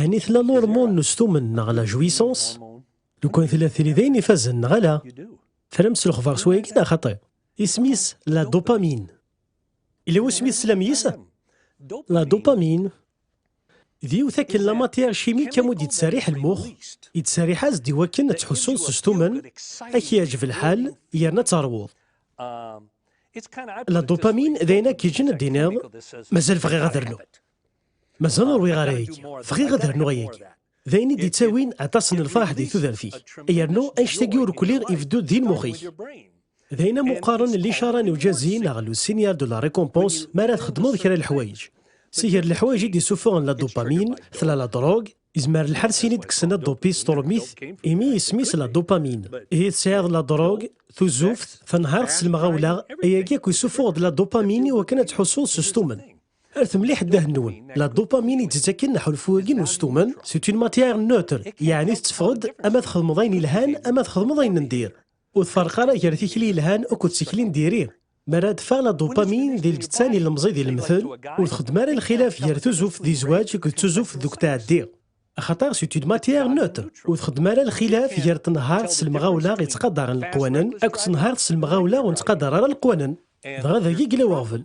Ɛni tella lurmun n ustumen neɣ la jouissance? Lukan tella tili d ayen ifazen neɣ ala? Tram s lexbar s wayagi neɣ xaṭi? Isem-is la dopamine. Yella wasmi teslam yis? La dopamine d yiwet akken la matière chimique amu d-yettserriḥ lmux, yettserriḥ-as-d iwakken ad tḥussuḍ s ustumen, ad k-yeɛjeb lḥal yerna ad teṛwuḍ. La dopamine d ayen ad k-yeǧǧen ad d-tiniḍ mazal bɣiɣ ad rnuɣ. Mazal ur wiɣ ara ayagi. Bɣiɣ ad rnuɣ ayagi. D ayen i d-ittawin aṭas n lferḥ di tudert-ik. Yernu annect-agi ur kli ibeddu-d di lmux-ik. D ayen am uqqaren n licara n ujazi neɣ le signal de la récompense mi ara txedmeḍ kra n leḥwayeǧ. Si ger leḥwayeǧ i d-isufuɣen la dopamine, tella la drogue, izmer lḥal sin i d-kksen la dopi s turmit, imi isem-is la dopamine. Ihi tesɛiḍ la drogue, tuzuft, tanhart s lemɣawla, ayagi akk isufuɣ-d la dopamine i wakken ad tḥussuḍ s ustumen. Ert mliḥ ddahenwen. La dopamine i d-tettaken aḥulfu-agi n ustumen, c'est une matière neutre, yeɛni tetteffeɣ-d ama txedmeḍ ayen yelhan ama txedmeḍ ayen n dir. Ur tfarreq ara gar tikli yelhan akked tikli n diri. Mi ara d-teffeɣ la dopamine di lǧetta n yilemẓi d yilemtel, ur txeddem ara lxilaf gar tuzzuft di zzwaǧ akked tuzzuft deg utɛeddi. Axaṭer c'est une matière neutre, ur txeddem ara lxilaf gar tenhart s lemɣawla yettqadaren leqwanen akked tenhart s lemɣawla ur nettqadar ara leqwanen. Dɣa dagi yella weɣbel.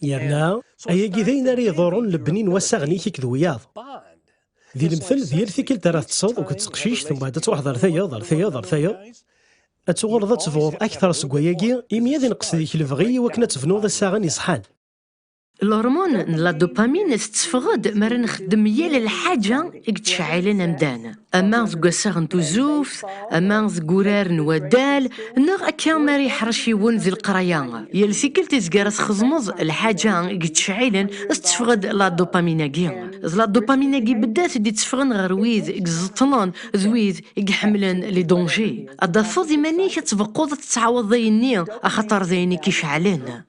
Yerna, ayagi d ayen ara iḍurren lebni n wassaɣen-ik akked wiyaḍ. Di lemtel, d yal tikkelt ara teṭṭseḍ akked teqcict, mbaɛd ad truḥeḍ ar tayeḍ, ar tayeḍ, ar tayeḍ, ad tuɣaleḍ ad tebɣuḍ akteṛ seg wayagi, imi ad ineqqes deg-k lebɣi i wakken ad tebnuḍ assaɣen iṣeḥḥan. Lhormone n la dopamine tetteffeɣ-d mi ara nxeddem yal lḥaǧa i yettceɛɛilen amdan. ama deg wassaɣ n tuzuft, ama deg urar n waddal, neɣ akka mi ara yeḥṛec yiwen di leqraya. Yal tikkelt izga ara txedmeḍ lḥaǧa i yettceɛɛilen, ad tetteffeɣ-d la dopamine-agi. D la dopamine-agi beddat i d-itteffɣen ɣer wid i iẓeṭṭlen d wid i iḥemmlen les dangers. Ad d-tafeḍ iman-ik ad tbeqquḍ ad tettɛawadeḍ ayenni axaṭer d ayen i k-iceɛɛlen.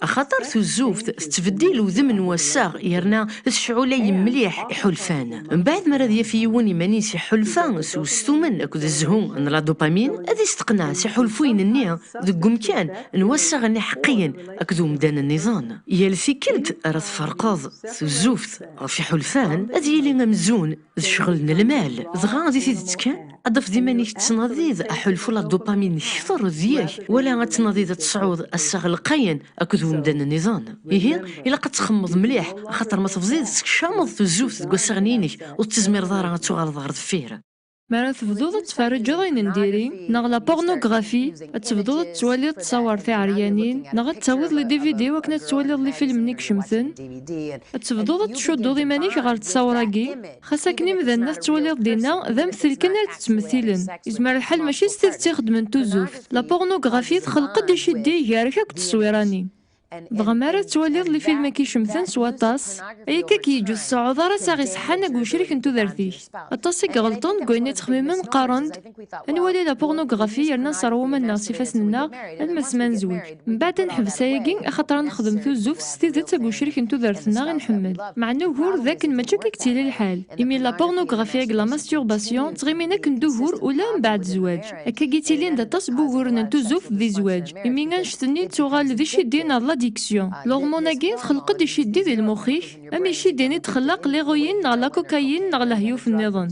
axaṭer tuzzuft tettbeddil udem n wassaɣ yerna tecɛulay mliḥ iḥulfan. Mbeɛd mi ara ad yaf yiwen iman-is iḥulfa s ustumen akked zzhu n la dopamine, ad isteqneɛ s iḥulfuyen-nni deg wemkan n wassaɣen iḥeqqiyen akked umdan nniḍen. Yal tikkelt ara tferqeḍ tuzzuft ɣef iḥulfan, ad yili amzun d ccɣel n lmal, dɣa di tidet kan, ad tafeḍ iman-ik tettnadiḍ aḥulfu la dopamine kter deg-k, wala ad tnadiḍ ad tesɛuḍ assaɣ lqayen akked umdan nniḍen. Ihi, ilaq ad txemmeḍ mliḥ, axaṭer ma tebdiḍ teskeccameḍ tuzzuft deg wassaɣen-inek, ur tettizmireḍ ara ad tuɣaleḍ ɣer deffir. Mi ara tebduḍ ad tferrǧeḍ ayen n diri, neɣ la pornographie, ad tebduḍ ad tettwaliḍ ttṣawar tiɛeryanin, neɣ ad d-tawiḍ les DVD wakken ad tettwaliḍ lifilmen i icemten, Ad tebduḍ ad tcudduḍ iman-ik ɣer ttawṛ-agi, xas akken imdanen ad t-ttwaliḍ dinna d amtel kan ara d-ttmettilen. Yezmer lḥal mačči s tidet i xeddmen tuzuft. La pornographie txelq-d iceddi gar-k akked tteswira-nni. Dɣa mi ara tettwaliḍ lifilm akk icemten s waṭas, ay akka i k-yeǧǧ ur tseɛɛuḍ ara assaɣ iṣeḥḥan akked ucrik n tudert-ik. Aṭas i iɣelṭen deg wayen i ttxemmimen qqaren-d, Anwa di la pornografi yerna sserwumen-nneɣ s ifassen-nneɣ alma s ma nezweǧ. Mbaɛd ad neḥbes ayagi axaṭer ad nexdem tuzzuft s tidet ag ucrik n tudert-nneɣ i nḥemmel. Meɛna ugur d akken mačči akka i yettili lḥal, imi la pornografi ag la masturbation ttɣimin akken d ugur ula mbaɛd zzwaǧ. Akka ag yettilin d aṭas n wuguren n tuzzuft di zzwaǧ, imi annect-nni yettuɣal d iciddi neɣ d l'addiction. L'hormone-agi txelq-d iciddi di lmux-ik, am iciddi-nni d-txellaq l'héroïne neɣ la cocaïne neɣ lehyuf-nniḍen.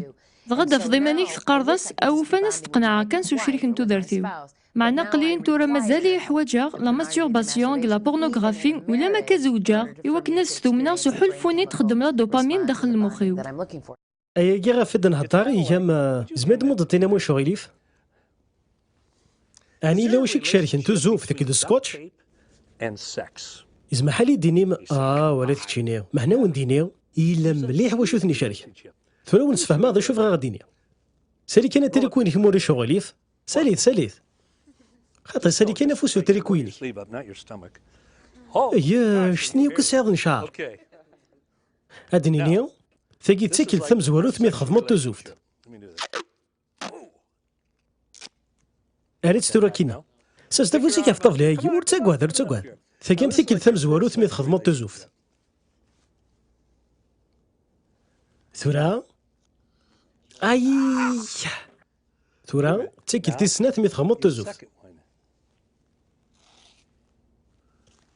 Dɣa d-tafeḍ iman-ik teqqareḍ-as, awufan ad s-d-qenɛeɣ kan s ucrik n tudert-iw. Meɛna aql-iyi-n tura mazal-iyi ḥwaǧeɣ la masturbation akked la pornographie ulamma akka zewǧeɣ, i wakken ad stumneɣ s uḥulfu-nni i d-txeddem la dopamine daxel lmux-iw. Ayagi ɣef i d-nhedder iga-m. Zemir-d mudeṭ-inem ucɣil-if? Ɛni yella wacu i icerken tuzzuft akked scotch? Yezmer ḥal i d-tinim, Ah, wala keččini, meɛna a wen-d-iniɣ, yella mliḥ wacu i ten-icerken. Tura a wen-sfehmeɣ d acu bɣiɣ ad d-iniɣ. Sali kan atriku-inek ma ulac aɣilif, sali-t, sali-t. Xaṭi, sali kan afus n utriku-inek. Eg anect-nni akk i tesɛiḍ n cceɛr. Ad d-nini, tagi d tikkelt tamezwarut mi txedmeḍ tuzzuft. Arra-tt tura kina. Sers tafus-ik ɣef ṭṭabla-agi, ur ttagad, ur ttagad. Tagi am tikkelt tamezwarut mi txedmeḍ tuzuft. Tura, ayi! Tura, d tikkelt tis snat mi txedmeḍ tuzuft.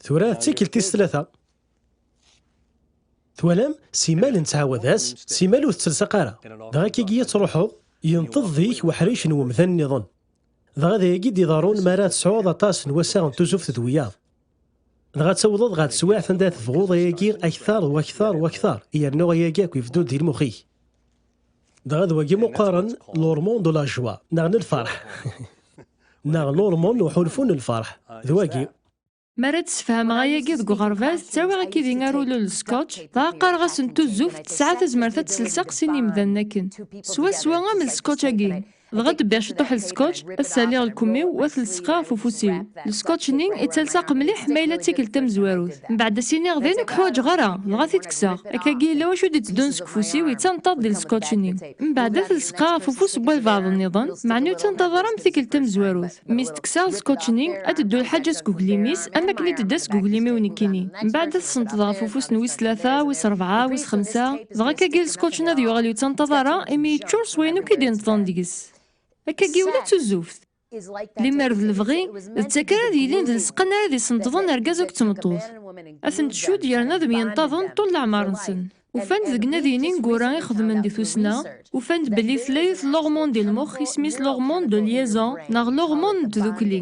Tura, d tikkelt tis tlata. Twalam, simal nettɛawad-as, simal ur tettelseq ara. Dɣa kigi ad truḥeḍ, yenṭeḍ deg-k weḥric n wemdan nniḍen. Dɣa d ayagi i d-iḍerrun mi ara tesɛuḍ aṭas n wassaɣ n tuzuft d wiyaḍ. Dɣa ad tawḍeḍ ɣer teswiɛt anda tebɣuḍ ayagi akteṛ d wakteṛ u akteṛ, yernu ayagi akk ibeddu-d di lmux-ik. Dɣa d wagi ma qqaren l'hormone de la joie, neɣ n lfeṛḥ, neɣ l'hormone n uḥulfu n lfeṛḥ, d wagi. Mi ara d-sefhameɣ ayagi deg uɣerbaz, ttawiɣ akkid-i arulel n Scotch, dɣa qqareɣ-asen tuzzuft, tesɛa tazmert ad tels aqsi n yimdanen akken. Swaswa am lscotch-agi. Dɣa d-bbiɣ ciṭuḥ n Scotch, ad saliɣ lkemm-iw, wa t-lseqeɣ ɣef ufus-iw. Lscotch-nni, i ttalseɣ qmliḥ, ma yella d tikelt tamezwarut. Mbeɛd ad s-iniɣ d ayen ur k-ḥwaǧeɣ ara, dɣa t-id-kkseɣ. Akkagi yella wacu d-iteddun seg ufus-iw, yettanṭaḍ di lscotch-nni. Mbeɛd ad t-lseqeɣ ɣef ufus n walbeɛḍ-nniḍen, meɛna ur ttanṭaḍ ara am tikelt tamezwarut. Mi s-teksaḍ scotch-nni, ad teddu lḥaǧa seg uglim-is am wakken i d-tedda seg uglim-iw nekkini. Mbeɛd ad t-senṭḍeɣ ɣef ufus n wis tlata, wis rebɛa, wis xemsa, dɣa akkagi scotch-nni ad yuɣal ur yettanṭaḍ ara imi yeččur s wayen akk i d-ineṭḍen deg-s. Akkagi ula d tuzzuft. Limmer d lebɣi, d takka ara d-yilin d lseqqa-nni ara d-isenṭḍen argaz akked tmeṭṭut. Ad ten-tcudd yerna ad myenṭaḍen ṭul leɛmer-nsen. Ufan-d deg nadi ineggura i xedmen di tussna, ufan-d belli tlayet l'hormone di lmux isem-is l'hormone de liaison neɣ l'hormone n tdukli.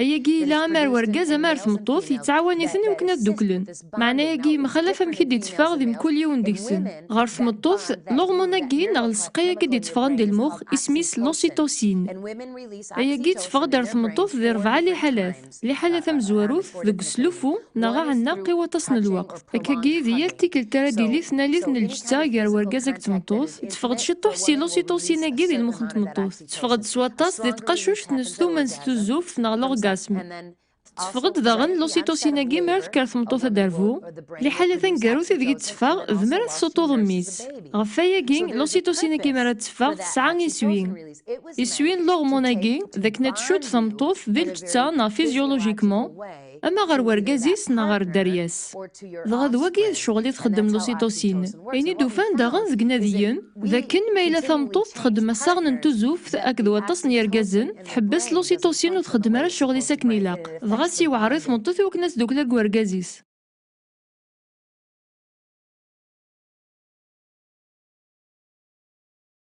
Ayagi yella ama ar wergaz ama ar tmeṭṭut yettɛawan-iten i wakken ad dduklen. Meɛna ayagi yemxalaf amek i d-itteffeɣ di mkul yiwen deg-sen. Ɣer tmeṭṭut, l'hormone-agi neɣ lseqqa-agi d-itteffɣen di lmux isem-is l'ocytocine. Ayagi itteffeɣ-d ar tmeṭṭut di rebɛa liḥalat. Liḥala tamezwarut deg uslufu neɣ aɛenneq i waṭas n lweqt. Akkagi, di yal tikkelt ara d-tili tnalit n lǧetta gar urgaz akked tmeṭṭut, tteffeɣ-d ciṭuḥ si lusiṭusin-agi di lmux n tmeṭṭut, tteffeɣ-d s waṭas di tqacuct n ssuma n s tuzzuft neɣ l'orgasme, tteffeɣ-d daɣen lusiṭusin-agi mi ara tekker tmeṭṭut ad d-terbu, liḥala taneggarut ideg i tteffeɣ d mi ara tessuṭṭuḍ mmi-s. Ɣef wayagi, lusiṭusin-agi mi ara tteffeɣ tesɛa iswi. Iswi n leɣmun-agi d akken ad tcudd tameṭṭut di lǧetta neɣ fizyulujikman, ama ɣer wergaz-is neɣ ɣer dderya-s. Dɣa d wagi i d ccɣel i txeddem lusitosin. Ayen i d-ufan daɣen deg inadiyen, d akken ma yella tameṭṭut txeddem assaɣen n tuzuft akked waṭas n yergazen, tḥebbes lusitosin ur txeddem ara ccɣel-is akken ilaq, dɣa ad s-yewɛer i tmeṭṭut i wakken ad tdukel akked wergaz-is.